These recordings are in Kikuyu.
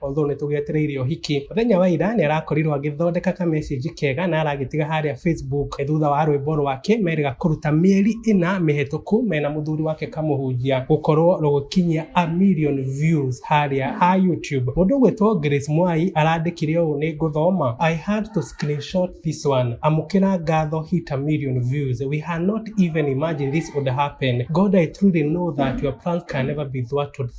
although nĩ tũgetereire ũhiki mũthenya wa ira nĩ arakorirwo agĩthondeka ka message kega na aragĩtiga harĩa facebook E, thutha wa rwĩmbo rwake merĩga kũruta mĩeri ĩna mĩhetũku mena mũthuri wake kamũhunjia gũkorwo rũgĩkinyia a million views harĩa ha youtube mũndũ ũgwĩtwo grace mwai arandĩkire ũũ nĩ ngũthoma i had to screenshot this one amũkĩra ngatho hit a million views we had not even imagined this would happen god i truly know that your plans can never be thwarted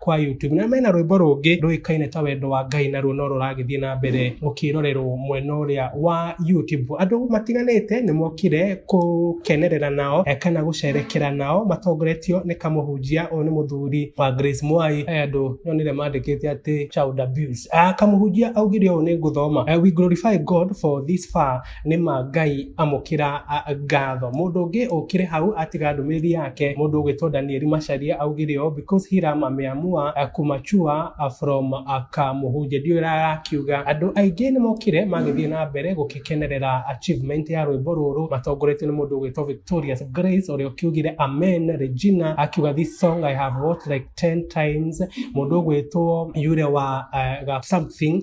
kwa YouTube na mena rwĩmbo rũngĩ rũĩkaine ta wendo wa Ngai naruo no rũragĩthiĩ na mbere rũkĩrorerwo mwena ũrĩa wa YouTube. Andũ matiganĩte nĩ mokire gũkenerera nao eh, kana gũcerekera nao matongoretio nĩ kamũhunjia ũyũ nĩ mũthuri wa Grace Mwai. Aya andũ nyonire mandĩkĩte atĩ child abuse. Ah, kamũhunjia augire ũũ nĩ ngũthoma. Eh, we glorify God for this far nĩ ma ngai amũkĩra ngatho mũndũ ũngĩ ũkire hau atiga ndũmĩrĩri yake mũndũ ũgwĩtwo danieli macaria augire ũũ because hiram ameamua uh, kumachua uh, from uh, kamuhunje ndiũĩ arakiuga andũ aingĩ nĩ mokire magĩthiĩ na mbere gũkĩkenerera achievement ya rwĩmbo rũrũ matongoretio nĩ mũndũ ũgwĩtwo victorious grace ũrĩa ũkiugire amen regina akiuga this song i have watched like 10 times mũndũ ũgwĩtwo yule wa uh, something